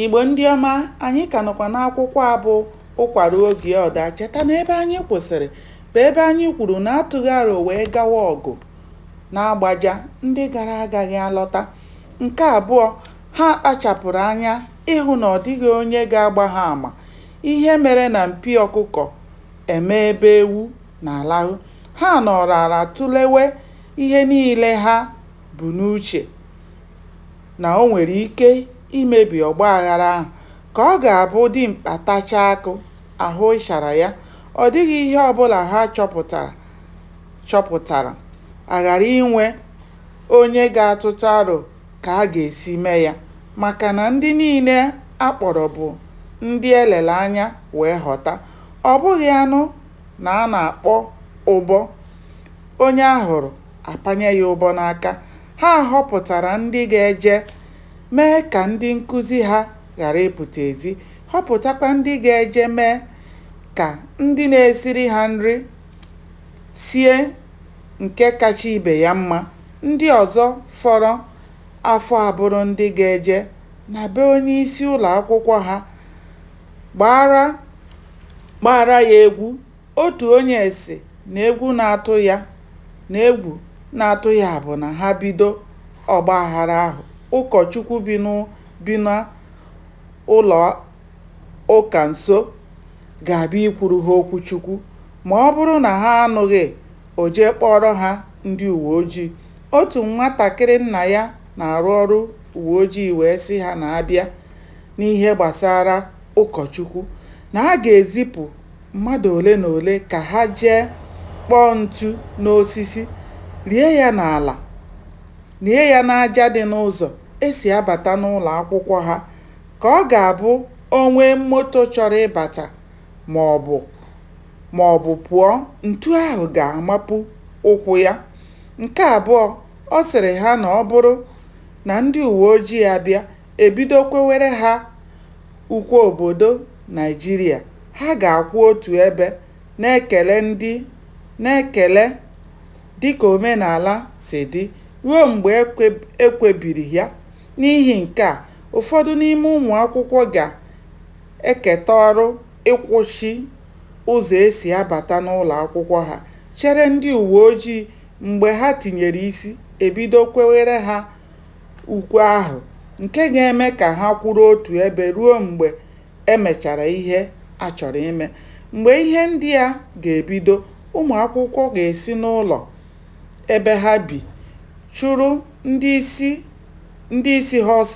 Igbo ndị ọma, anyị ka nọkwa n'akwụkwọ a bụ Ụkwa Ruo Oge Ọ Daa. Cheta na ebe anyị kwụsịrị bụ ebe anyị kwuru na a tụghị aro wee gawa ọgụ n'Agbaja ndị gara agaghị alọta. Nke abụọ, ha kpachapụrụ anya ịhụ na ọ dịghị onye ga-agba ha ama ihe mere na mpio ọkụkọ emee ebe ewu na-alahụ. Ha nọrọ ala tụlewe ihe niile ha bu n'uche. na o nwere ike imebi ọgba aghara ahụ ka ọ ga-abụ dimkpa tachaa akụ, a hụ ịchara ya, ọ dịghị ihe ọ bụla ha chọpụtara, a ghara inwe onye ga-atụtụ aro ka a ga-esi mee ya, maka na ndị niile a kpọrọ bụ ndị e lere anya wee họta, ọ bụghị a nụ na a na-akpọ ụbọ, onye a hụrụ, a panye ya ụbọ n'aka, Ha họpụtara ndị ga-eje mee ka ndị nkuzi ha ghara ịpụta ezi, họpụtakwa ndị ga-eje mee ka ndị na-esiri ha nri sie nke kacha ibe ya mma. Ndị ọzọ fọrọ afọ abụrụ ndị ga-eje na be onyeisi ụlọakwụkwọ ha gbaara ya egwu. Otu onye sị na egwu na-atụ ya na egwu na-atụ ya bụ na ha bido ọgbaghara ahụ, ụkọchukwu bi n'ụlọụka nso ga-abịa ikwuru ha okwu Chukwu. Ma ọ bụrụ na ha anụghị, o jee kpọọrọ ha ndị uweojii. Otu nwatakịrị nna ya na-arụ ọrụ uweojii wee sị ha na a bịa n'ihe gbasara ụkọchukwu, na a ga-ezipụ mmadụ ole na ole ka ha jee kpọọ ntu n'osisi, lie ya n'ala, lie ya n'aja dị n'ụzọ e si abata n'ụlọ akwụkwọ ha ka ọ ga-abụ o nwee moto chọrọ ịbata ma ọ bụ pụọ, ntu ahụ ga-amapu ụkwụ ya. Nke abụọ, ọ sịrị ha na ọ bụrụ na ndị uwe ojii abịa, e bido kwewere ha ukwe obodo. Naịjirịa, ha ga-akwụ otu ebe na-ekele ndị na-ekele dịka omenala si dị ruo mgbe e kwebiri ya. N'ihi nke a, ụfọdụ n'ime ụmụakwụkwọ ga-eketa ọrụ ịkwụchi ụzọ e si abata n'ụlọakwụkwọ ha chere ndị uweojii mgbe ha tinyere isi, e bido kwewere ha ukwe ahụ nke ga-eme ka ha kwụrụ otu ebe ruo mgbe e mechara ihe a chọrọ ime. Mgbe ihe ndị a ga-ebido, ụmụ akwụkwọ ga-esi n'ụlọ ebe ha bi chụrụ ndị isi ha ọsọ.